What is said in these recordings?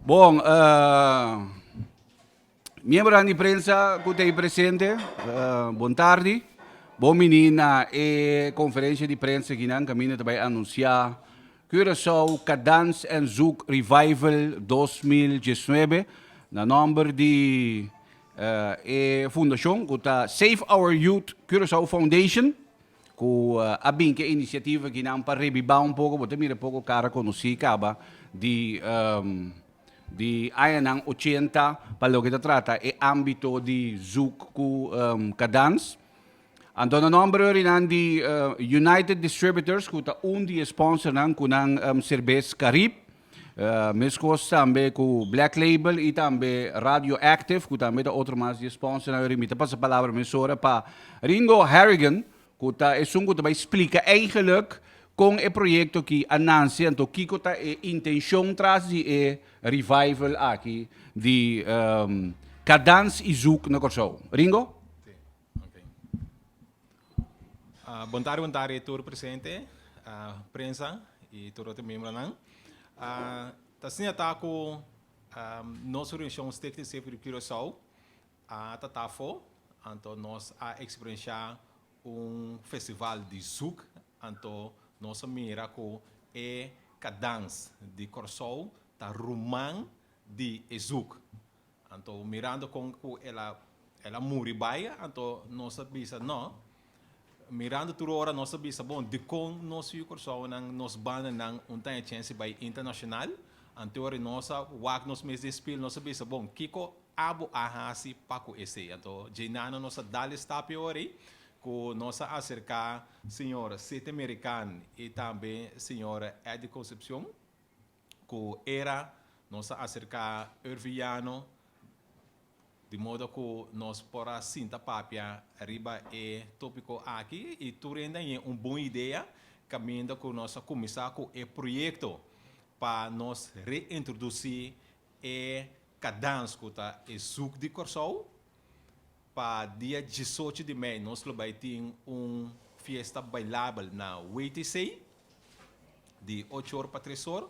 Bon, miembronan di prensa ku ta ei presente, bon tardi. Bon bini na e konferensia di prensa kinan kaminda ta bai anunsiá Curaçao Kadans en Zouk Revival dos mil diesnuebe na nòmber di e fundashon ku ta Save Our Youth Curaçao Foundation. Cu a bin cu e iniciativa aki nan pa rebiba un poco, bo ta mira poco cara conoci caba di di añanan ochenta pa loke ta trata e ambito di zoek cu cadans. Anto nan nomber hoy rinan di United Distributors cu ta un di e sponsornan cu nan cervez Carib. Mescos tambe cu Black Label y tambe Radio Active cu tambe ta otro mas di e sponsor nan. Mi ta pasa palabra mesora pa Ringo Harrigan cu ta esun cu ta bay splica eigenlijk con e proyecto aki a nanci anto kico ta e intencion tras di e revival aki di Kadans y Zouk na Corsou. Ringo? Bontari bontari tur presente, prensa y tur otro miembronan. Ta siña ta cu nos reunion Stichting Safe Rip Curaçao a tata afo, anto nos a experiencia un festival di zoek, anto nos a mira cu e cadans di Curaçao ta ruman di e zoek. Anto mirando con cu el a el a muri bay anto nos a bisa no mirando tur ora nos a bisa bon dicon nos yu Cursounan nos bandanan un taña chensi bay internacional anto ora nos a wak nos mes den spil nos a bisa bon kico abo a haci pa cu esey anto djey nano nos a dal e stapia orei cu nos a acerca señor Sete Merican y tambe señor Eddy Concepcion. ku era nos a aserká Urvillano di modo ku nos por a sinta papia riba e tópiko aki i tur hende a ña un bon idea kaminda ku nos a kuminsá ku e proyekto pa nos reintrodusí e kadans ku ta e zuk di Kòrsou. Pa dia diesocho di mei nos lo bai tin un fiesta bailabel na WTC di ocho or pa tres or.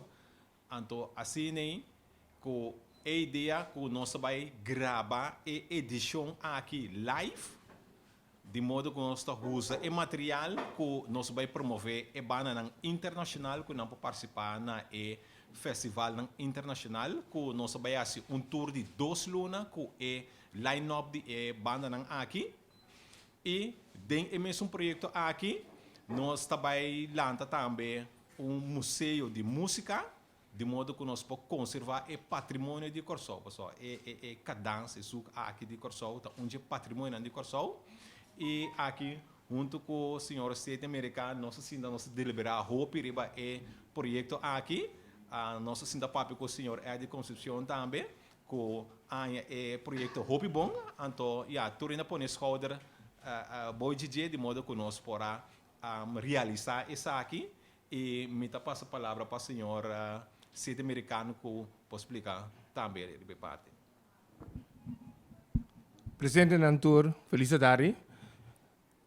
Anto asina ei ku e idea ku nos ta bai graba e edishon aki live. di modo ku nos ta usa e material ku nos bai promové e bandanan internashonal ku nan por partisipá na e festivalnan internashonal ku nos a bai hasi un tur di dos luna ku e line-up di e bandanan aki. I den e mesun proyekto aki nos ta bai lanta tambe un museo di músika Di modo ku nos por konservá e patrimonio di Kòrsou. Pasobra e e e kadans, e suk aki di Kòrsou ta un dje patrimonionan di Kòrsou. I aki huntu ku señor State Amerikan nos a sinta nos a deliberá hopi riba e proyekto aki. Nos a sinta papia ku señor Eddy Concepcion tambe ku aña e proyekto hopi bon. Anto ya, tur hende a pone e skouder bo dje dje di modo ku nos por a realisá esaki. I mi ta pasa palabra pa señora Siti Miricanu cu por splica tambe riba e parti. Presentenan tur feliz atari.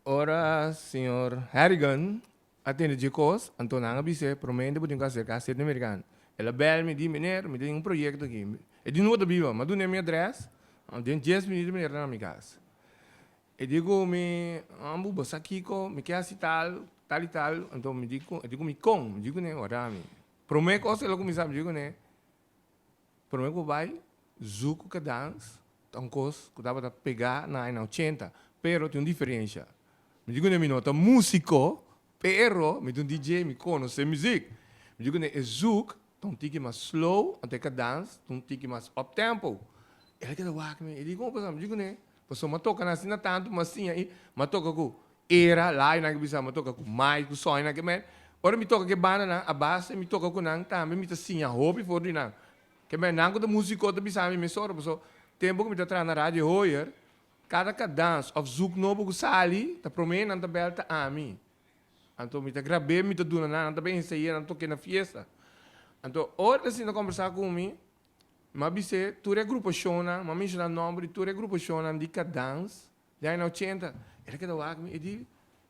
Ora señor Harrigan a tende dje cos, anto nan a bis'e, Promente bo tin cu acerca Siti Miricanu. El a bel mi, di, Meneer, mi tin un proyecto aki. E di, Dun bo ta biba? Mas dun'e mi address, den dies minuto meneer ta na mi cas. E di ku mi, Ambu bo sa kiko, mi ke hasi tal, tal i tal. Anto mi di ku, e di ku mi, Kon? Mi di ku ne, Wardá mi. Promé kos e loke mi sa, mi di ku ne, Promé ku bo bai Zuku Kadans ta un kos ku tabata pegá na aña ochenta, pero tin un diferensha. Mi di ku ne, mi no ta músiko, pero mi ta un DJ, mi konosé muzik. Mi di ku ne, e zuk. Ta un tiki mas slow, anto e ka dance, ta un tiki mas up tempo. El a keda wak mi, e di, Como pasaba? Mi di, Jukuné, pasobra m'a toka nan así na tantu, m'a siña ahí, m'a toka ku Era, Laainan ke bisa, m'a toka ku Mai, ku Soinan ke mei. Ora mi toka ku e bandanan, a base mi toka ku nan tambe mi ta siña hopi for di nan. Ke mei, nan ku ta músiko ta bisa mi mes ora, pasobra tempu ku mi ta traha na Radio Hooyer, kada ka dance òf zoek nobo ku sali, ta promé nan ta bèlta ami. Anto mi ta grab'é, mi ta duna nan, nan ta ben hesei'é, nan ta tok'é na fiesta. Anto ora nan sinta kombersá ku mi, m'a bis'é tur e grupashonnan, m'a menshoná nòmber di tur e grupashonnan di Kadans di aña ochenta. El a keda wak mi, e di,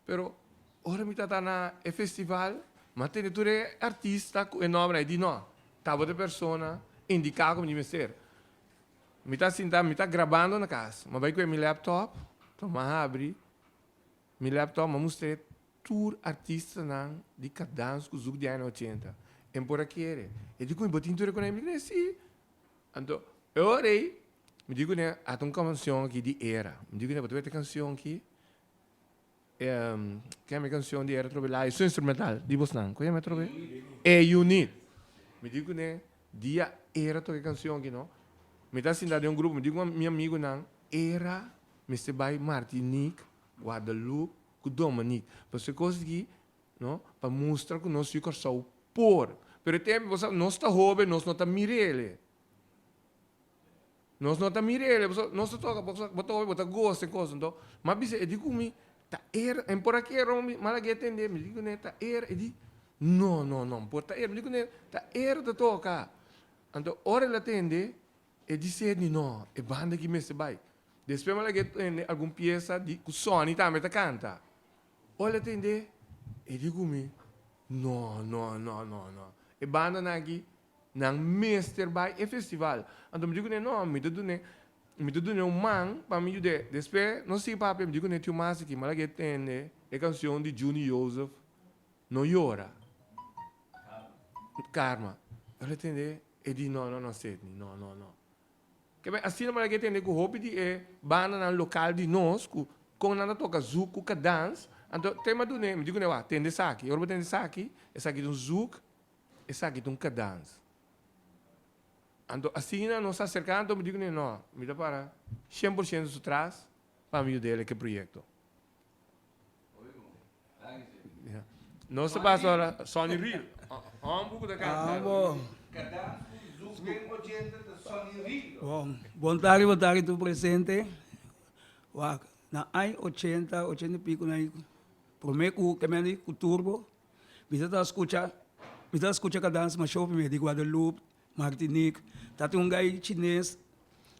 Pero ora mi tabata na e festival, m'a tende tur e artista ku e nòmbernan. E di, No, tabata e persona indiká ku mi di mester. Mi ta sintá, mi ta grabando na kas. M'a bai ku e mi laptop, tuma habri. Mi laptop m'a mustr'é tur artistanan di Kadans ku Zouk di aña ochenta. E m'por a kere. E di ku mi, Bo tin tur e konei? Mi di ku n'e, Sí. Anto, e ora ei, mi di ku n'e, a ta un kansion aki di era. Mi di ku n'e, Bo ta wete e kansion ki? E, Kemi e kansion di era trob'e laiu. Su instrumental di bosnan. Ku yama trob'e? E-Unit. Mi di ku n'e, Dia era toka e kansion aki, no? Mi ta sinta den un grupo, mi di ku mi amigunan, Era Mester bai Martiniek, Guadalup cu Dominik pa su e cos aki no pa mustra cu nos yu Corsou por pero e tempo bo sab nos ta hobe nos no ta mirele nos no ta mirele pasobra nos ta toca bo ta hobe bo ta gosta e cos enton m'a bisa e di cu mi ta era en por aki eran mi mal a guia tende mi di cune ta era e di no no no por ta era mi di cune ta era ta toca anto ora el a tende E di Sedni, No, e banda aki mester bai. Despues mi a laga e tende algun piesa di ku Sonny tambe ta kanta. Ora el a tende, e di ku mi, No, no, no, no, no. E bandanan aki, nan mester bai e festival. Anto mi di ku n'e, No, mi ta dun'e, mi ta dun'e un man pa mi yud'e. Despues nos sigui papia, mi di ku n'e, Tiu Masiki, mi a laga e tende e kanshon di Juni Jozef, No yora. Karma. Karma. Ora el a tende. E di, No, no, no, Sydney, no, no, no. Ke bai, asina bo ta ke tende ku hopi di e bandanan lokal di nos, ku kon nan ta toka zouk ku kadans, anto te m'a dun'é, mi di kuné, Wak, tende esaki. Ora bo tende esaki, esaki ta un zouk, esaki ta un kadans. Anto asina nos a serká, anto mi di kuné, No, mi ta para shen por shento su tras pa mi yud'é el e ke proyekto. Nos ta basa ora Sonny Real. Hom buco ta canta. Bon, bon tardi, bon tardi tur presente. Wak, na ai ochenta, ochenta i pico na ai, prome cu kemendi cu Turbo, mi sa ta scucha, mi sa ta scucha kadans Mashó primer di Guadalupe, Martinik ta tin un gai chines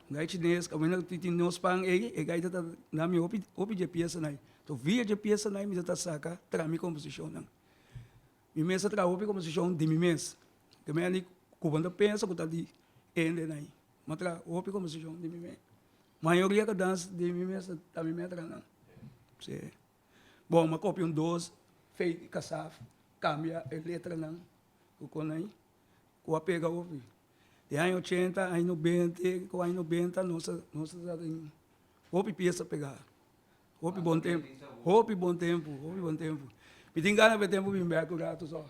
un gai chines kamen nan tin tin nos pan ei e gai ta na mi hopi hopi dje piesa nai to via dje piesa nai mi ta ta saka tra mi komposishon nan mi mes ta traha hopi komposishon di mi mes ke me anik ku bo ta pensa ku ta di ende nai mi a traha hopi komposishon di mi mes mayoria kadans di mi mes ta mi me a traha nan se bon mi a kopi un dos feiti kasaf kambia e letra nan ku kon ai. ku a pega hopi. Den aña ochenta, aña nobente, ku aña nobenta nos ta nos ta sa den hopi piesa pegá. Hopi bon tempu, hopi bon tempu, hopi bon tempu. Mi tin gana p'e tempu bin bèk un ratu sò.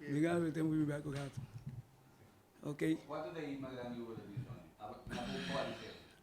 Mi tin gana p'e tempu bin bèk un ratu. Oke.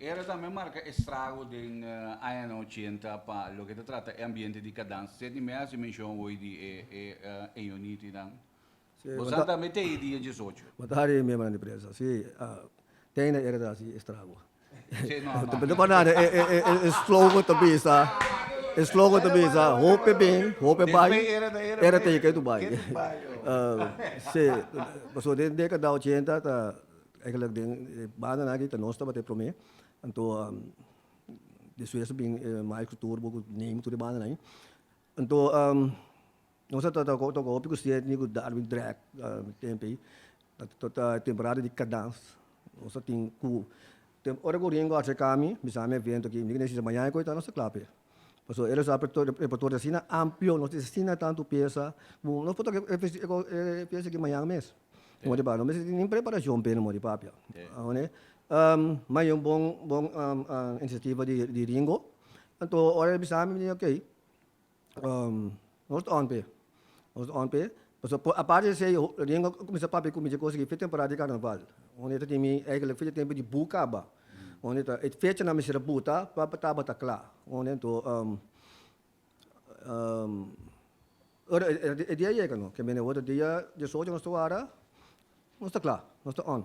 Era tambe marka estrago den añanan ochenta pa loke ta trata e ambiente di Kadans. Seti mi a hasi menshon hoy di e unitinan. Boso tambe tei di e diesocho. Bo ta haña e miembronan di prensa. Si, tei na era ta hasi estrago. Ta bini panan e slogan ta bisa, e slogan ta bisa hopi e bin, hopi e bai, era ta e ke tu bai. Si, pasobra den e dekada ochenta ta eigenlijk den e bandanan aki ta nos tabata e prome. Anto despues a bin e maestro tur bo ku neem tur e bandanan. Anto. Nos a trata cu hopi custiña etnico Darwin Drake mi tempo ey. Ta e temporada di cadans. Nos a tin cu ora cu Ringo a haci e cambi mi sa mi a evento aki mi tin sisa mañana cu e ta nos ta cla p'e. Pasobra ey lo sa repertorio asina amplio, nos tin asina tanto pieza cu nos por toca e pieza aki mañana mes. Modo di papia. Mi tin nin preparacion p'e modo di papia. Ma ey un bon iniciativa di Ringo. Anto ora ey bisa mi mi di ok. Nos ta ownpe, nos ta ownpe, pasobra por aparte di esei Ringo a cuminsa papia cu mi dje cosa di fe temporada di carnaval, hunde ta kimi eigenlijk fe di tempo di bu caba, hunde ta e fechanan mester a buta pa tabata cla, hunde to ora e dia yega no, ke mene worde dia diesocho nos ta wara, nos ta cla, nos ta own.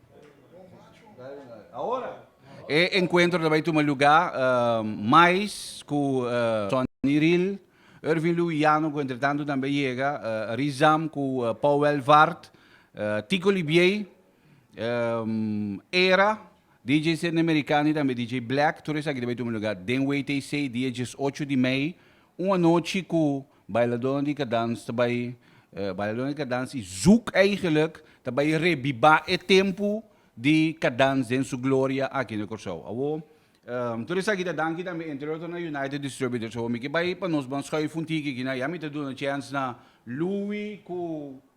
E enkuentro ta bai tuma lugá mais ku Sonny Riel. Ervin Louijano ku entretantu tambe yega, Rizam ku Paul Welvaart, Tico Libiey, Era, DJ Sydney Mericani tambe DJ Black. Tur esaki ta bai tuma lugá den WTC dia diesocho di mei. Un anochi ku Bailadónan di Kadans ta bai Bailadónan di Kadans i zoek eigenlik ta bai rebibá e tempu di Kadans den su gloria aki na Kòrsou. Awor, tur esaki ta danki tambe entre otro na United Distributors. Awor mi ke bai pa nos bandschui funtiki aki na. Ya mi ta duna chèns na Louie ku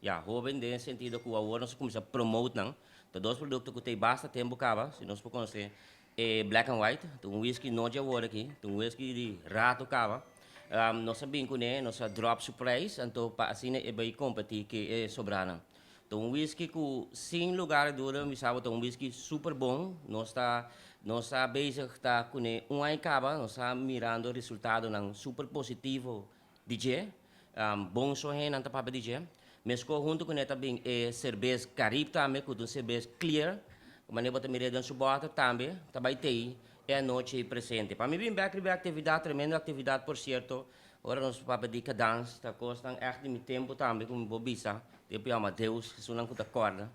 Ya, hoben den sentido cu awor nos a cuminsa promote nan. Ta dos producto cu ta y basta tempo caba, si nos por conoce e Black and White, ta un whisky no dje awor aki, ta un whisky di rato caba. Nos a bin cu ne, nos a drop su prijs, anto pa asina e bay competi ke e sobranan. Ta un whisky cu sin lugar a duda mi sa bo ta un whisky super bon, nos ta nos ta bezig ta cu ne un aña caba, nos ta mirando resultadonan super positivo. Di dje, bon so hennan ta papia di dje. Mesco hunto cu ne ta bin e cerbes Carib tambe, cu ta un cerbes clear, mane bo ta mira den su bottle tambe, ta bay tey e anochi ey presente. Pa mi bin bek riba e actividad, tremendo actividad por cierto, ora nos ta papia di Kadans, ta cosnan echt di mi tempo tambe, cu mi por bisa, tin e por yama Deus, esunnan cu ta corda.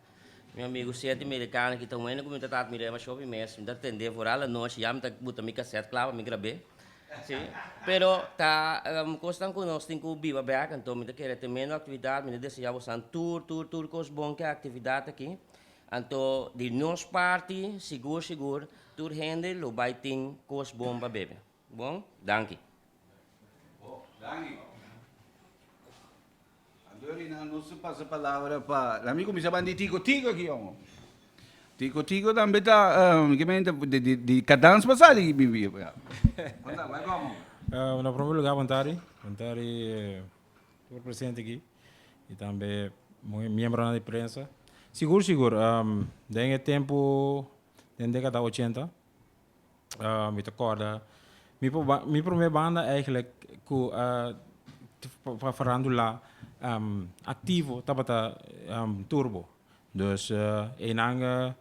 Mi amigu siete merikano ki ta wende ku mi ta trata mi demashó mi mes, mi ta tendé for al anochi ya mi ta buta mi kasèt kla pa mi grab'é. Sí, pero ta kosnan ku nos tin ku biba bèk anto mi ta kere tremendo aktividat, mi ta deseá bosan tur tur tur kos bon ku e aktividat aki. Anto di nos parti sigur sigur tur hende lo bai tin kos bon pa bebe. Bon, danki. Bon, danki. Andorinha no su pasa palabra pa. Laat mi cuminsa ban di Tico Tico aki homo. Tico Tico tambe ta ki mente di cadans pa sali aki bibi apo ya. Konta bay como. Na promer lugar bon tardi. Bon tardi tur presente aki y tambe miembronan di prensa. Sigur sigur den e tempo den dekada ochenta Ah, mi ta kòrda, mi por ba- mi promé banda eigenlijk ku a for farandula aktivo tabata Turbo. Dus einan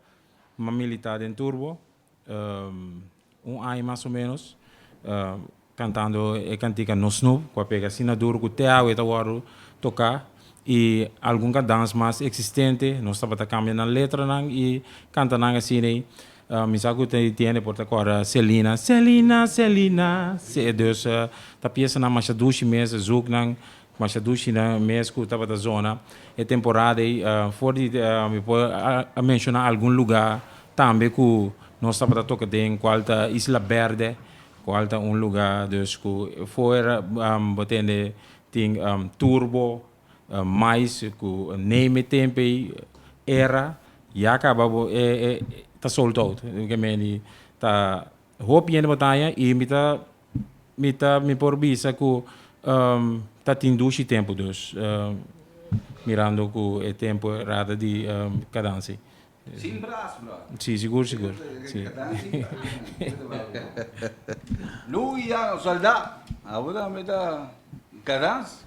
ma militá den Turbo un aña mas o ménos. Cantando e cantica Nos Nu cu a pega asina duro cu te awe ta wordo toca y algun cadans mas existente. Nos tabata cambia nan letranan y canta nan asiney. Mi sa cu ta entiende por ta corda Selina, Selina, Selina, se. Dus ta piesanan masha dushi mes, zoeknan masha dushi mes cu tabata zona e temporada ey. For di mi por a menciona algun lugar tambe cu nos tabata toca den cual ta Isla Berde Cual ta un luga dus cu fuera bo tende tin turbo, mais cu neme tempo ey era ya caba bo e ta sold out ke me di ta hoop yende bo ta aya y mi ta mi ta mi por bisa cu ta tin dushi tempo dus mirando cu e tempo rada di cadansi. Sin bras bro. Sí, sigur sigur. Sí. Louis ya un soldá. Abo tambe ta cadans.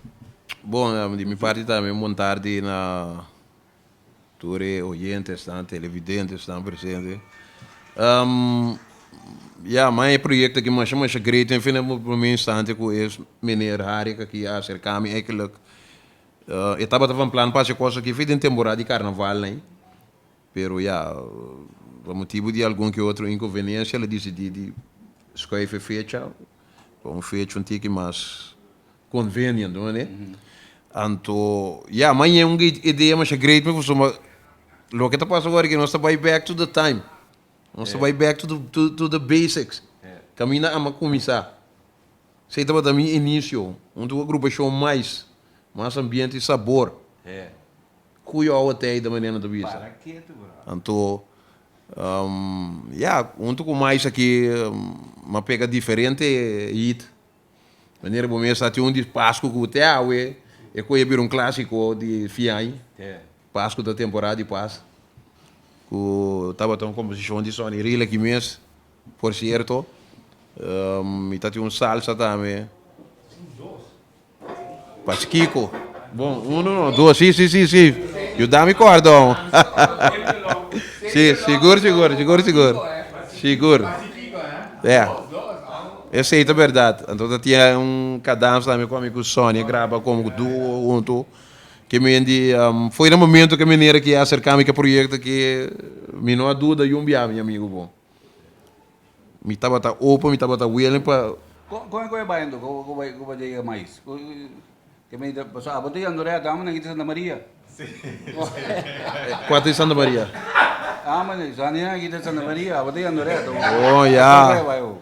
Bon, di mi parti tambe un bon tardi na tur e oyentenan, televidentenan presente. Ya, man e proyekto aki masha masha great, en fin, prome instanti ku e meneer Harry aki a aserka mi, eindelijk. E tabata van plan pa haci cos aki fey den temporada di carnaval ney, pero ya, pa motibo di algun que otro inconveniencia lo decidi di schuif e fecha pa un fecha un tiki mas convenient, bo mane? Anto ya, mañe un idea masha great mi pasobra ma loke ta pasa awor e ke nos ta bay back to the time, nos ta bay back to the basics, caminda ama cuminsa. Sei tabata mi inicio hunto cu e grupacion mais, mas ambiente y sabor. Cuyo awa tei ta manera nan ta bisa. Anto ya, hunto cu mais aki ma pega diferente hit. Manera bo mes sa tin un di pascu cu te awe e coye bira un clasico di fin ai. Pascu ta temporada di pas cu tabata un composicion di Sonny Riel aki mes. Por cierto mi ta tin un salsa tambe pa Chikico. Bon uno no dos si si si si yu da mi cordon si sigur sigur sigur sigur sigur ya esey ta berdad anto ta tin un cadans tambe cu ami cu Sonny a graba como cu duo hunto ke mendi foi na momento ke mi nera ke acerca mi ke proyecto aki mi no a duda yun biaha mi amigo bon. Mi tabata open, mi tabata willing pa. Con, con cu e bai anto cu, cu bai, cu bai dega mais? Cu, cu mi ta, pasobra abo ta yendo rei Adán manera ki ta Santa Maria. Sí, sí. Cua ta e Santa Maria? Ah, manera, Sania ki ta Santa Maria, abo ta yendo rei Adán. Oh, ya. Con cu e bai awo?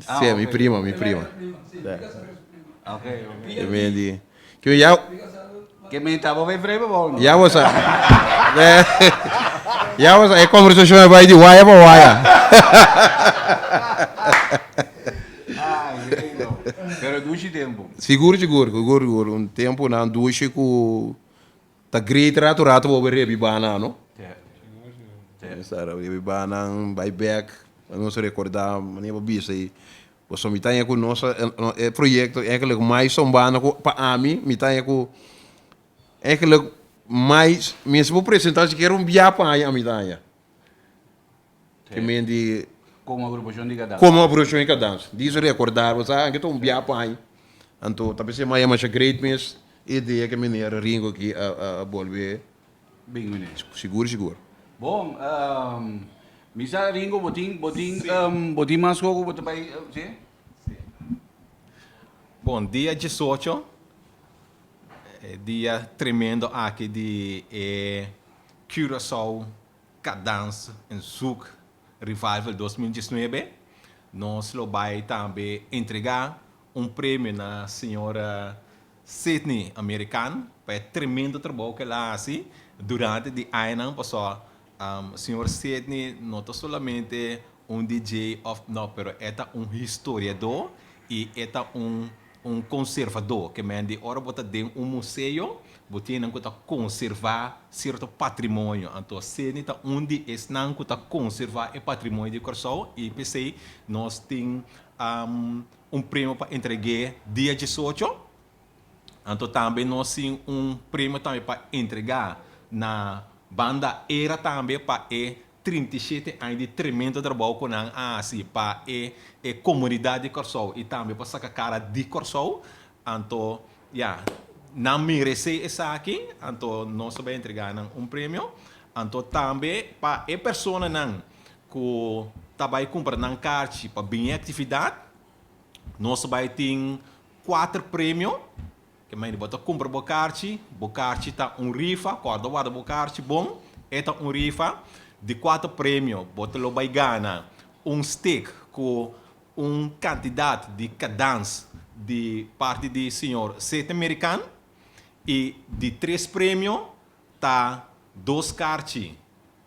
Sea, mi prima, mi prima. Ke men di. Ke men ya. Ke men ta bo vrebe bo. Ya bo sa. Ya bo sa e conversacion a bai di waya pa waya. Pero dushi tempo. Sigur sigur sigur sigur un tempo nan dushi ku. Ta great rato rato bo bai rebi bana no. Rebi bana bai bek na nos recorda mane bo bisa ei bo so mita aña ku nos e proyecto ekelik mai son bana ku pa ami mita aña ku ekelik mai mester bo presenta sikiera un bia paña a mita aña. Te men di Como agrupación di Cadanza. Como agrupación di Cadanza. Di su recordar bo sa anke ta un bia por aña. Anto ta pens'é maya masha great mes e idea ke Meneer Ringo aki a a bolbe. Bin meneer. Sigur sigur. Bon, mi sa Ringo bo tin bo tin bo tin mas sco ku bo ta bai si? Bon, dia diesocho e dia tremendo aki di e Curaçao. Cadence en Zoek Revival dos mil diesnuebe, nos lo bai tambe entrega un premio na señora Sydney American pa e tremendo trabou cu el a haci durante di añanan paso. Señor Sydney no ta solamente un DJ of no pero e ta un historiador y e ta un Un konservadó ke men di ora bo ta den un museo, bo tin nan ku ta konservá sierto patrimonio. Anto Seni ta un di esnan ku ta konservá e patrimonio di Kòrsou i p'esei nos tin un premio pa entreg'é dia diesocho. Anto tambe nos tin un premio tambe pa entregá na banda era tambe pa e trinta i shete aña di tremendo trabou ku nan a hasi pa e e komunidat di Kòrsou i tambe pa saka kara di Kòrsou, anto ya, nan meresé esaki, anto nos a bai entregá nan un premio, anto tambe pa e personanan ku ta bai kumpra nan karchi pa bin e aktividat, nos a bai tin kuater premio. Ke main di bo ta kumpra bo karchi, bo karchi ta un rifa, kòrda bo warda bo karchi bon, e ta un rifa di kuater premio, bo ta lo bai gana un stick ku un kantidat di kadans di parti di señor Sete Merikan, i di tres premio ta dos karchi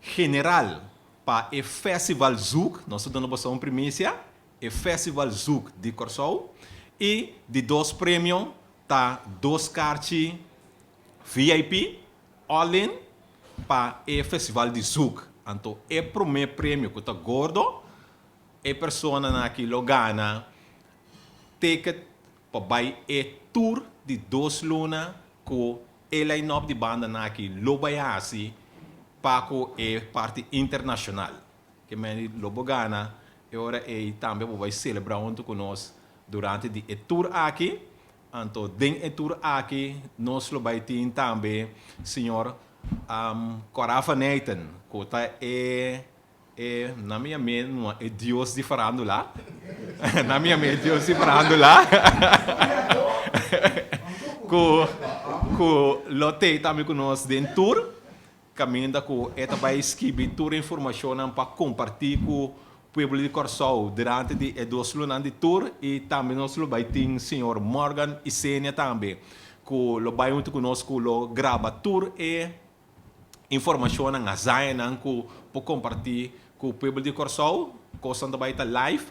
general pa e fèsival zoek, nos ta duna boso un primisia, e Festival Zouk di Kòrsou i di dos premio ta dos karchi vip all in pa e festival di zouk. Anto e promé premio ku ta gordo e personanan aki lo gana ticket pa bai e tur di dos luna ku e line-up di bandanan aki lo bai hasi pa ku e parti internashonal. Ke meni lo bo gana e ora ei tambe bo bai selebrá huntu ku nos durante di e tur aki. Anto den e tur aki nos lo bai tin tambe señor Corafa Nathan ku ta e e nan mi yam'é numa e dios di farándula nan mi yam'é e dios di farándula ku ku lo tei tambe ku nos den tur. Caminda cu e ta bay skibi tur e informacionnan pa comparti cu pueblo di Corsou durante di e dos lunan di tur y tambe nos lo bay tin señor Morgan Isenia tambe cu lo bay hunto cu nos cu lo graba tur e informacionnan, hazañanan cu por comparti cu pueblo di Corsou, cosnan ta bay ta live,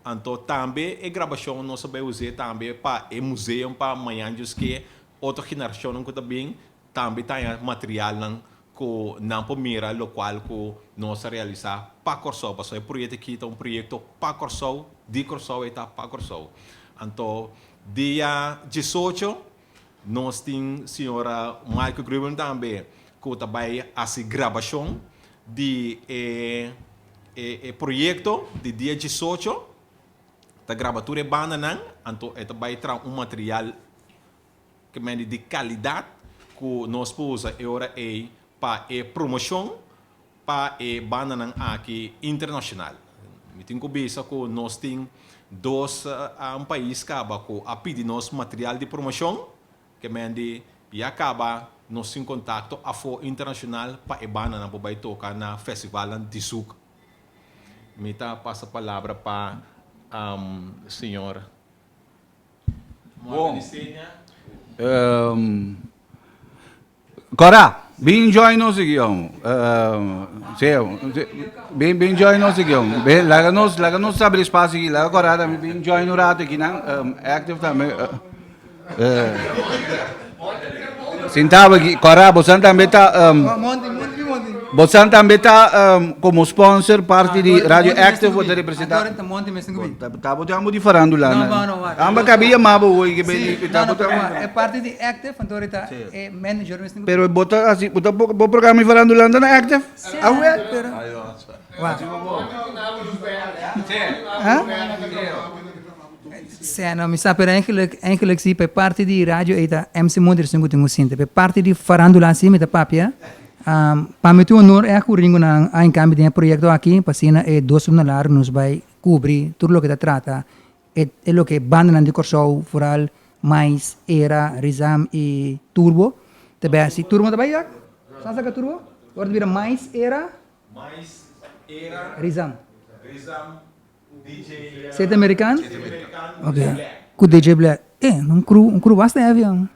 anto tambe e grabacion nos a bay uze tambe pa e museum pa mañan djusque otro generacionnan cu ta bin Tambe taña materialnan ku nan por mira lokual ku nos ta realisá pa Kòrsou, pasobra e proyekto aki ta un proyekto pa Kòrsou, di Kòrsou i ta pa Kòrsou. Anto dia diesocho nos tin señora Maaike Grubem tambe ku ta bai hasi grabashon di e proyekto di dia diesocho, ta graba tur e bandanan, anto e ta bai traha un material Ke medi di kalidat ku nos por usa e ora ei pa e promoshon pa e bandanan aki internashonal. Mi tin ku bisa ku nos tin dos un pais kaba ku a pidi nos material di promoshon, ke medi ya kaba nos tin kontakto afo internashonal pa e bandanan por bai toka na festivalnan di suk. Mi ta pasa palabra pa señor. Bon. Ehm, Cora, bin join nos aquí, jong. Ehm, sí, jong. Sí, Bin, bin join nos aquí, jong. Bin, laga nos, laga nos abrir espacio aquí. Laga Cora también bin join un rato aquí, nan. Ehm, active también. Eh, eh. Sintabo aquí, Cora, bosan también ta um, bosan también ta um, como sponsor parte di Radio Active voor te representa. Tabo te amo di farandula. No, no, no, wacht. Amba kabi ya mabo hoy que ben di tabo te amo. E parte di Active van ahorita e manager mis ningo. Pero bota así, bota bo programa di farandula na Active. Ah, wel, pero. Wacht. Huh? Sèn no, mi sa pero enkèlèk enkèlèk si, pa e parti di radio ei ta MC Moderacion ku tin ku sinti, pa e parti di farándula así mi ta papia, pa mi ta un onor e akoringunan a inkambi den e proyekto aki, pa asina e dos luna laru nos bai kubri tur loke ta trata e e loke bandanan di Kòrsou, foral Mais, Era, Rizam i Turbo, ta bai así, Turbo ta bai ya? Sa sa ka Turbo? Ora ta bira Mais, Era, Rizam. Sete American? Sete American. Ok. Ku DJ Black. E, un crew, un crew basta heavy, an.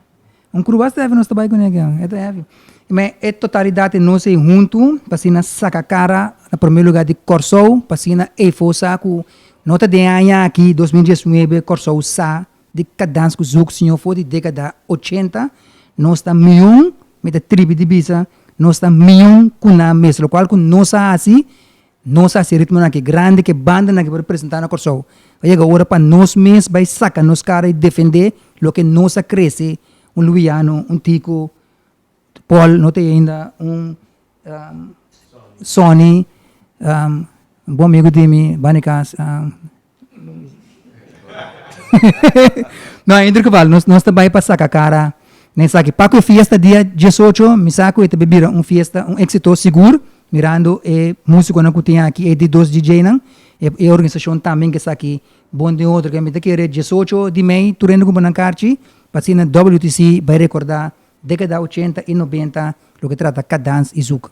Un crew basta heavy nos ta bai kuné aki, an. E ta heavy. Me e totalidat di nos ei huntu pa asina saka kara na promé lugá di Kòrsou, pa asina Eifo sa ku no ta den aña aki, dos mil diesnuebe, Kòrsou sa di kadans ku Zouk siñó for di dékada ochenta, nos ta mion, mi ta tribi di bisa, nos ta mion ku nan mes, lokual ku nos a hasi Nos a hasi ritmonan aki grandi ku e bandanan ku por presentá na Kòrsou. A yega ora pa nos mes bai saka nos kara i defendé loke nos a krese, un Luwiano, un Tiko, Pòl, no ta ei ainda, un Sòni, un bon amigu di mi, Banikas. no a inder geval nos nos ta bai pa saca cara na esaki paco e fiesta dia diesocho mi sa cu e ta bay bira un fiesta un exito sigur mirando e musiconan cu tin aki e di dos DJ nan e e organisacion tambe ke esaki bon den otro ke mi ta kere diesocho di mei tur hende cumpra nan carchi pa asina WTC bay recorda decada ochenta y noventa loke trata K Dance y Zouk.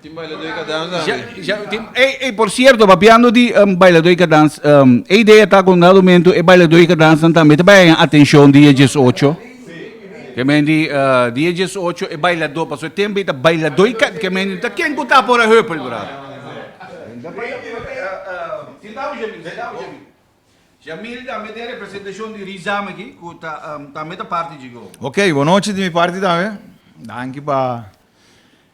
Tin bailadó i ka dansa akí. Ja, ja, tin, ey, ey, por cierto, papiando di um, bailadó i ka dans, um, e idea ta ku un dado momento e bailadó i ka dansnan tambe ta bai haña atencion di e diesocho. Ke men di, uh, di e diesocho e bailadó, pasobra e tempo ei ta bailadó i ka, ke men di, ta ken ku ta por a hüppel, brada? Tin dame Jamil, tin dame Jamil. Jamil tambe tin e representacion di Rizam akí ku ta, um, tambe ta parti djigó. Oké, bonochi di mi parti tambe. Danki pa.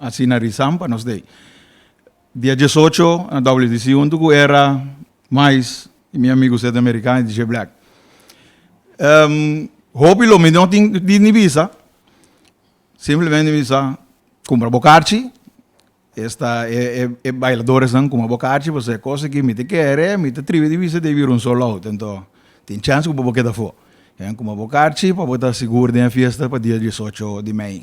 Asina risan pa nos dey. Dia diesocho na WDC huntu ku Era, Mais i mi amigu Seth American i DJ Black. Hopi lo mi no tin di ni bisa, simplemente mi bisa kumpra bo karchi, esta e bailadoresnan kumpra bo karchi pasobra e kos aki mi ta kere, mi ta tribi di bisa debira un sold out anto tin chèns ku bo por keda afó. Kumpra bo karchi pa bo ta sigur den e fiesta pa dia diesocho di mei.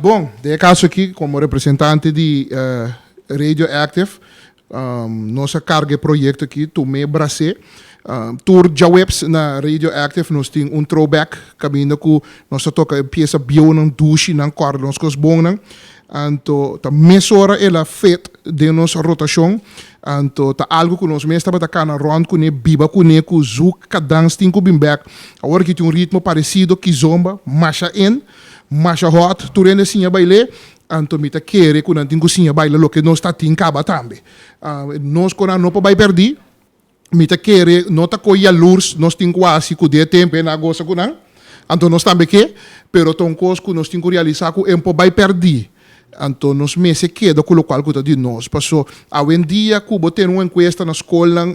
Bon, den e kaso aki, komo representante di Radio Active, nos a karga e proyekto aki Tumé Brasé. Tur djaweps na Radio Active nos tin un throwback kaminda ku nos ta toka e piesa bieunan, dushi, nan kòrda nos kos bonnan. Anto ta mesora el a fit den nos rotashon. Anto ta algu ku nos mes tabata kana rònt kuné, biba kuné ku Zouk, Kadans, tin ku bin bèk. Awor a tin un ritmo paresido, Kizomba, Masha en. Masha hot tur hende siña baile anto mi ta kere ku nan tin ku siña baila loke nos ta tin kaba tambe nos konan no por bai perdí mi ta kere no ta koi yalurs nos tin ku hasi ku de tempo e na gosa ku nan anto nos tambe ke pero ta un kos ku nos tin ku realisá ku e no por bai perdí. Anto nos mester keda ku lokual ku ta di nos, paso awendia ku bo tene un enkuesta na skolnan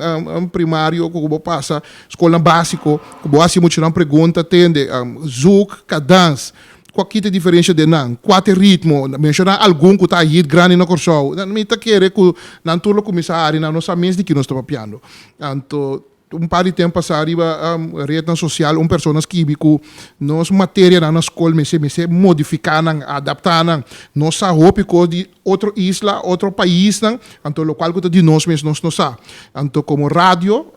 primario ku bo pasa, skolnan básiko, ku bo hasi muchanan pregunta tende, zuk, kadans, ku a kita diferensha den nan, kua ta e ritmo, menshoná algun ku ta a hit grandi na Kòrsou, mi ta kere ku nan tur lo kuminsá hari nan, nos sa mes di ki nos ta papiando. Anto Un par di temp pasá riba rednan sosial un persona skibi ku nos materianan na skol mester mester modifiká nan, adaptá nan. Nos sa hopi kos di otro isla, otro paisnan, anto lokual ku ta di nos mes nos no sa. Anto komo radio,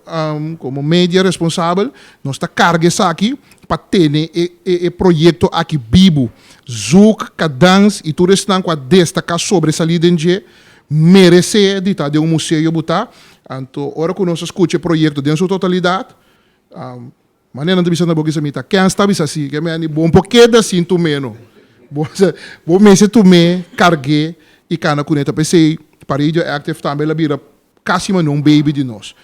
komo media responsabel, nos ta karga esaki pa tene e proyekto aki bibu. Zouk, Kadans i tur esnan ku a destaká sobresalí den dje, Meresé di ta den un museo bo ta. Anto ora ku nos a skucha e proyekto den su totalidat, manera nan ta bisa na bo kisa mi ta kèn sta bisa si, ke meni bo por keda sin tum'é no. Bo bo mester tum'é, karg'é i kana kuné ta. P'esei Paredio Active tambe la bira kasi manera un baby di nos.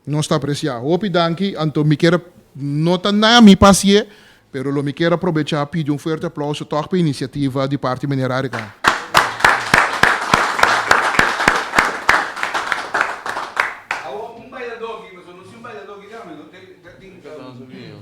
Nos ta apreciá. Hopi danki, anto mi kier, no ta nan a mi pa hasié, pero lo mi kier a probechá pidi un fuerte aplauso tòg pa e iniciativa di parti meneer Arica. Awo un bailador aki, pasobra no si un bailador aki, déjame no, ta tin, ta tin.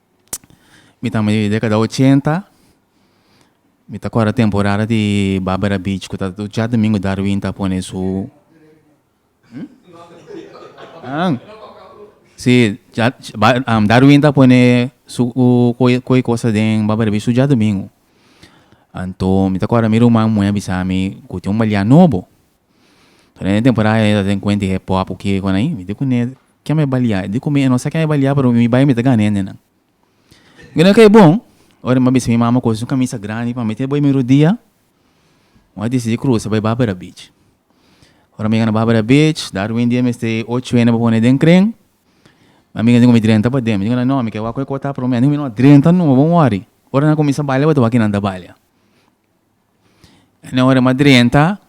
Mi ta mi dekada ochenta mi ta kòrda temporada di barbara beach ku ta ducha domingo darwin ta pone su si darwin ta pone su koe kosa den barbara beach ducha domingo anto mi ta kòrda mi ruman muhé a bisami ku tin un balian nobo So den e temporada ayi mi ta den kuenti e pòp oke ku anei mi di ku nel kian mi a balia i di ku mi no sa kian mi a balia pero mi bai mi ta gana hende nan mi nel ke bon ora mi a bisa mi mama koos un kamisa grandi pa mete bo e mi rodia mi a disidi krusa bai Barbara beach ora mi yega na Barbara beach Darwin di e mester e ocho hende pa pone den kren mi amigu a di ku mi drenta paden mi di ku nan no mi ke wak ku e kota prome a di ku mi no drenta no bo wòri ora nan kuminsha balia bo ta wak kinan ta balia. Nan ora m'a drenta,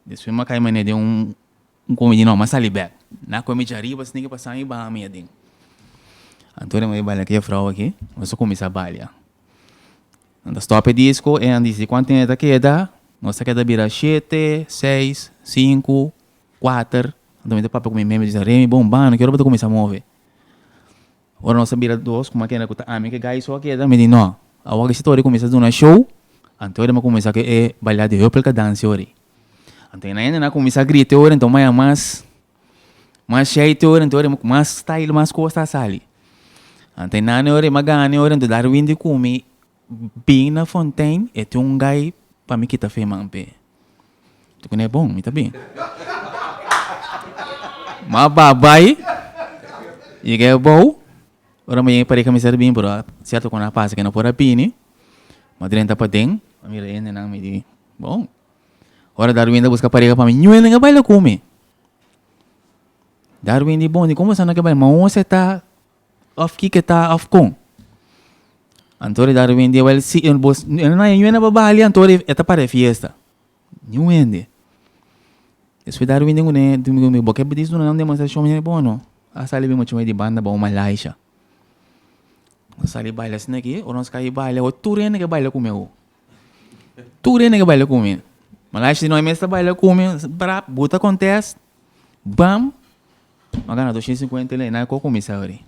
despues m'a kai manera di un un comida no m'a sali bek. Na come dje ariba s'e tin ke pasa mi bami adin. Anto ora m'a balia ku e vrouw aki nos a kuminsá balia. Nan ta stop e disko e nan disi kuantu tempo e ta keda, nos ta keda bira shete, seis, sinku, kuater. Anto mi ta papia ku mi meme mi ta bisa, Remi bon bani, ki ora bo ta kuminsá move? Ora nos a bira dos kuma kende ku ta ami ke gai so a keda, mi di no, awor disi tori kuminsá duna show, anto e deba kuminsá ku e balia di hupelka dansi ori. Anto e nan hende nan a kuminsá grite ori, anto maya mas mas shete ori, anto ora mas style, mas kos ta sali. Anto e nane ori, e magane ori, anto dar win di kumi. Bin na fontein e tin un gai pa mi kita fe man p'e. Tin ku ne bon, mi ta bin. M'a ba bai, yega e bou, ora mi yega pare kamisa ta bin pero sierto ku nan a pasa ku nan por a bini, m'a drenta paden, m'a mira hendenan mi di bon, ora Darwin ta buska parega pa mi ñuelnan ke baila ku mi. Darwin di bon, di kon bo sa nan ke baila? M'a un setá. Of kiko ta of kon. Anto ora e dado wende wel si e bo e no na yuena pa balia anto ora e ta para e fiesta. Ni un hende. Despues dado wende ngune hende bo ke a disfruta nan demostrashon mi a bo no. A sali mi a chuma di banda bo malaisha. Bo sali baila asina aki ora nos kai baila ho tur hende ke baila ku mi awo. Tur hende ke baila ku mi. Malaisha si no a mester baila ku mi brap bo ta contest. Bam no a gana doshen sinkuenta el enan ko kuminsa abri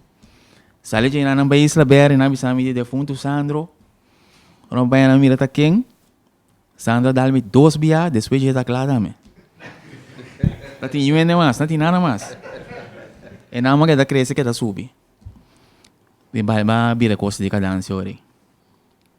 sali dje enan nan bai isla beri nan a bisa mi di e defuntu sandro nan bai nan mira ta ken sandro a dal mi dos bia despues dje ta kla dame no tin yuende mas no tin nada mas enan bo ke ta krese ke ta subi mi bai ba bira kos di kadansha ori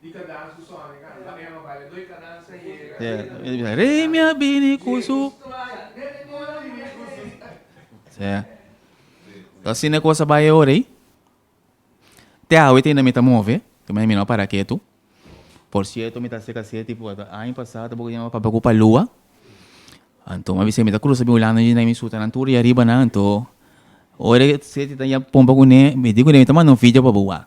Di cadanza cu Sonny canta. Laga Emma baila doi cadanza y e reina. Rey mi a bini cu su. Jezus tu aya. Nel e cor a bini cu su. Sí. Ta asina e cosa bai e ora ey. Te awe te mi ta move. Te manda mi no para ketu. Por cierto mi ta hacer case tipo a ta año pasado ta bo yama mi papá cu Palua. Anto mi a bisa mi ta cruza bin Hulanda y mi sutanan tur ya riba nan. Anto ora e seti ta ya pompa cune mi di cune mi ta manda un video pa bo wak.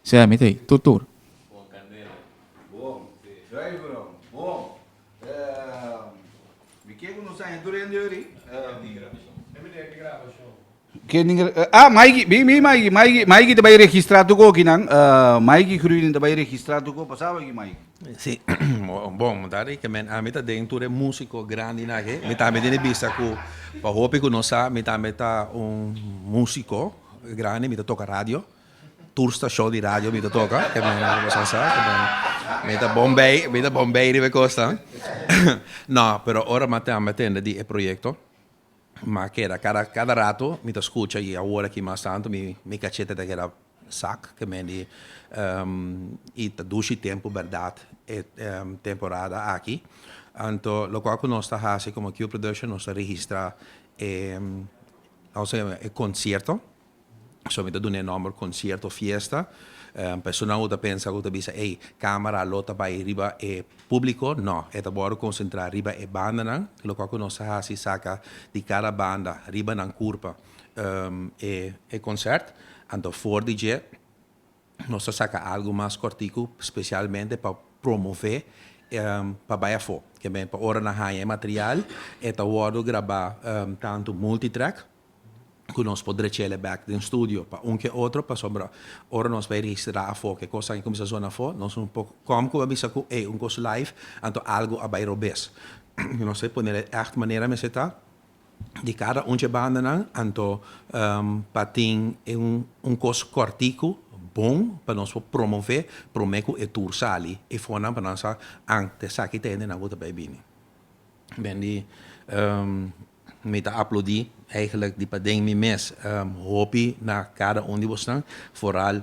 Sea, mi ta ei tur tur. Juan Candela, Bon. Dai Brown, Bon. Mi ke ku no sa hende tur hende yori. Ke ni grabashon? Ah, Maiki, bin bin Maiki, Maiki, Maiki ta bai registra tur ku okinan. Maiki Gruining ta bai registra tur ku pasaba aki Maiki. Si, bon, mi ta rikemen, ami ta den tur e musiko grandinan aki. Mi tambe tin e bista ku, pa hopi ku no sa, mi tambe ta un musiko grandi, mi ta toka radio. Tur stashon di radio mi ta toka, ke men a kobosnan sa, ke men, mi ta bon bei, mi ta bon bei riba e kosnan. No, pero ora mi a tende di e proyekto, mi a keda, kada, kada rato mi ta skucha, i awor aki mas tantu, mi, mi kachete ta keda sak, ke men di, i ta dushi tempu bèrdat e temporada aki. Anto, loke ku nos ta hasi komo Q Production, nos ta registrá e, konsierto, So mi ta duna e nòmber concierto of fiesta. Personnan ku ta pensa ku ta bisa ey camera lo ta bai riba e publico, no. E ta wòrdu concentra riba e bandanan, lokal ku nos ta hasi saka di kada banda riba nan kurpa e concert. Anto for di dje nos ta saka algu mas kòrtiku specialmente pa promove pa bai afó. Ke men pa ora nan haña e material e ta wòrdu graba tantu multi-track, cu nos por drechele bek den studio pa un ke otro pasobra ora nos bay registrá afó ke cos aki cuminsa zona afó nos no por com cu a bisa cu ey un cos live anto algo a bay robes nos a ponele echt manera mester ta di cada un dje bandanan anto pa tin un cos cortico bon pa nos por promove prome cu e tur sali e fonan pa nan sa an ta esaki ta hende nan cu ta bay bini. Mi ta aplodi eigenlijk di paden mi mes hopi na cada un di bosnan, vooral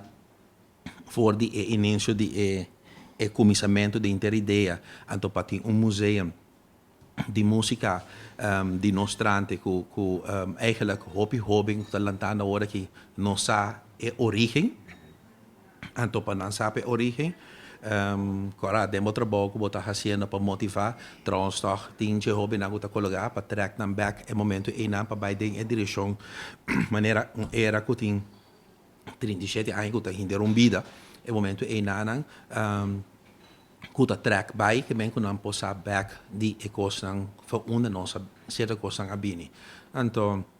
voor di e inincio di e cumisamento den Inter Idea, anto pa tin un museum di musica di nos trante cu cu eigenlijk hopi hoben cu ta lantando awor aki no sa e origen. Anto pa nan sa pa e origen, kora den bo trabou ku bo ta hasiendo pa motivá, tròns tòg tin dje hóbennan ku ta kologá pa trèk nan bèk e momentu einan pa bai den e direkshon manera un era ku tin trinta i shete aña ku ta hende rumbida. E momentu einanan ku ta trèk bai ke men ku nan por sa bèk di e kosnan fa unda nos a sierto kosnan a bini. Anto.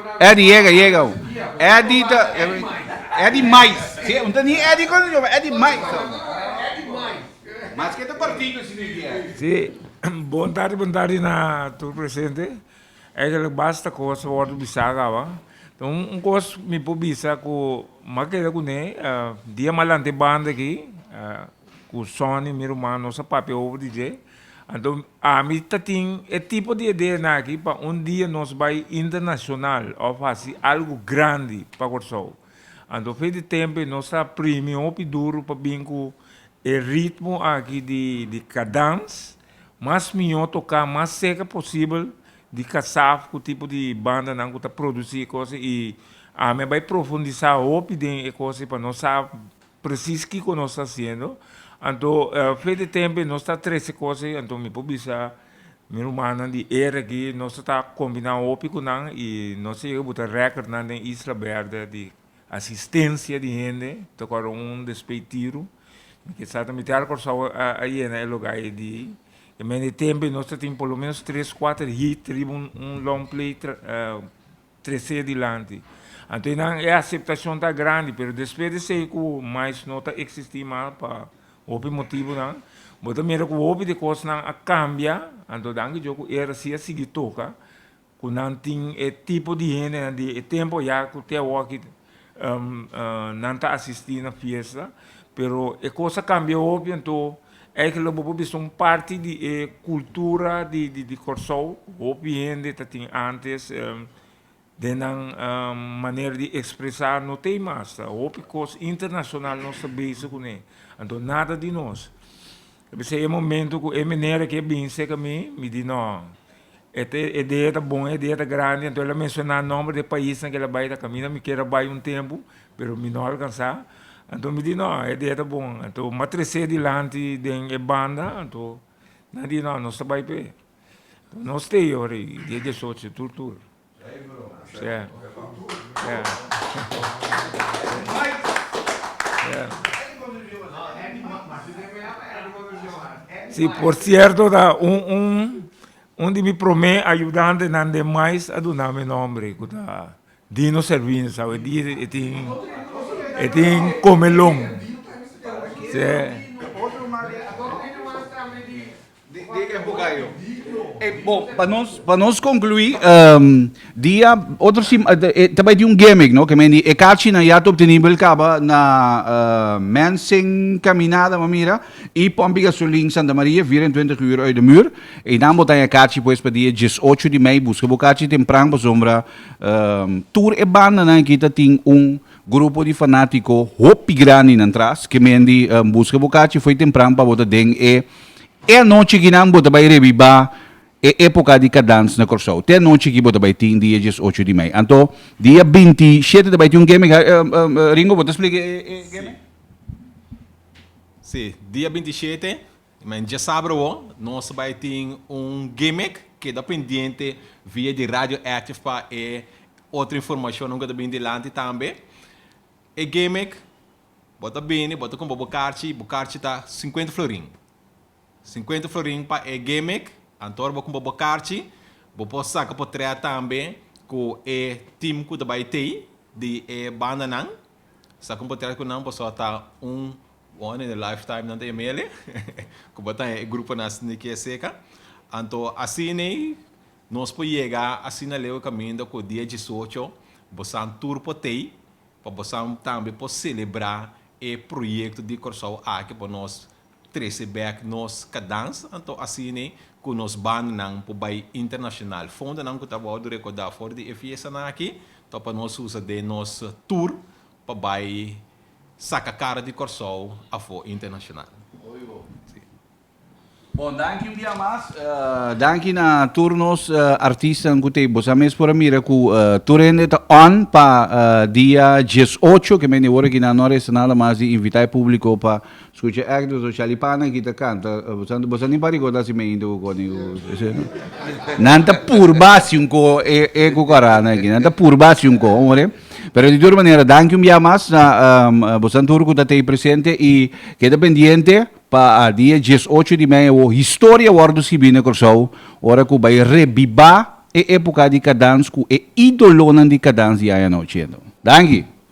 Eddy yega yega ho. Eddy ta Eddy mais. Si un ta ni Eddy con yo ba Eddy mais ta un. Maske ta partido si mi dia. Si bon tardi bon tardi na tur presente eigenlik basta cos a wordo bisa agaba ta un cos mi por bisa cu m'a keda cune dia malante banda aki cu Sonny mi ruman nos a papia over di dje. Anto ami ta tin e tipo di idea nan aki pa un dia nos bai internacional of haci algo grandi pa Corsou. Anto fe di tempe nos ta primi hopi duro pa bin cu e ritmo aki di cadans mas miyo toca mas seca posibel di casaf cu tipo di banda nan cu ta produci e cos y ami a bai profundisa hopi den e cos y pa nos sa Presis kiko nos ta hasiendo. Anto fe di tempe nos ta trece cos ei, anto mi por bisa mi rumannan di era aki, nos a ta combina hopi cu nan y nos a yega buta recordnan den Isla Berde di asistencia di hende tocora un despey tiro. Mi ke sa ta miti har Curaçao a yena e loga ei di e mende tempe nos ta tin por lo menos tres, cuater hit riba un long play trece dilanti. Anto nan e aceptacion ta grandi pero despues di esey cu mais no ta existi mas pa hopi motibonan bo ta mira cu hopi di cosnan a cambia anto danki Dios cu era si a sigui toca cu nan tin e tipo di hendenan di e tempo ya cu te awoki Nan ta asisti na fiesta pero e cos a cambia hopi anto eigenlijk bo por bisa un parti di e cultura di Kòrsou hopi hende ta tin antes den nan manera di expresa no tey mas ta hopi cos internacional nos ta base cune anto nada di nos E p'esei e momento ku e meneer aki a bin seka mi, mi di no, e ta e idea ta bon e idea ta grandi anto el a menshona nòmber di e paisnan ku el a bai ta kaminda mi kier a bai un tempu pero mi no alkansa anto mi di no e idea ta bon anto mi a trese dilanti den e banda anto nan a di no nos ta bai p'e nos stay ora ei dia dieciocho tur tur Si por cierto ta un di mi prome ayudantenan den mais a duna mi nombre cu ta Dino Servini sa e dia e tin comelon. di e hogayo. E bon, pa nos, pa nos conclui, um, dia, otro sim, e, ta bai di un gimmick, no? Que men di, e carchina ya ta obtenibel caba na uh, Mensing Caminada, ma mira, y Pompi Gasolin Santa Maria, 24 uur uit de muur. Y dan botan e carchi pues pa dia 18 di mei, busca bo carchi tempran, pasobra, um, tur e bandanan aki ta tin un, Grupo di fanatiko hopi grandinan tras ke men di buska bo kachi foi tempran pa bo ta den e e anochi kinan bo ta bai rebiba e epoka di kadans na Kòrsou. Te anochi ki bo ta bai tin dia dies ocho di mei. Anto dia binti shete ta bai tin un geme ka Ringo bo ta splica e geme? Si, dia binti shete. Men dje sabra wou nos bai tin un gimmick, keda pendiente via di Radio Active pa e otro informacionnan ku ta bini dilanti tambe. E gimmick, bo ta bini, bo ta compra bo karchi, bo karchi ta cincuenta florin. Cincuenta florin pa e gimmick, anto ora bo compra bo karchi, bo por saca potret tambe cu e team cu ta bai tei di e bandanan. Saca un potret cu nan pasobra ta un One in a lifetime nan ta e mele ku bo ta haña e gruponan asina di kia seka. Anto asina ei nos por yega asina leu e kaminda ku dia diesocho bosan tur por ta ei pa bosan tambe por selebrá e proyekto di Kòrsou aki pa nos trese bèk nos kadans. Anto asina ei ku nos bandanan por bai internashonal. Fondonan ku ta abou a wòrdu rekordá for di e fiestanan aki ta pa nos usa den nos tur pa bai. Saca cara di Corsou afo internacional. Oy ho. Sí. Bon, danki un dia mas. Danki na tur nos artistanan cu ta ei. Bo sa mes por a mira cu tur hende ta on pa dia diesocho, ke mende ora aki nan no a resta nada mas di invita e publico pa Scucha Agnes no Charlie Pana aki ta canta bo sa ni pa ricorda si me inte cu cor ni cu ese no. Nan ta purba haci un coho e e cucaranan aki nan ta purba haci un coho more pero di tur manera danki un bia mas na bosan tur cu ta tey presente y keda pendiente pa a dia dies ocho di mei awo historia wordo scibi na Corsou ora cu bay rebiba e epoca di cadans cu e idolonan di cadans di aña no ciento. Danki.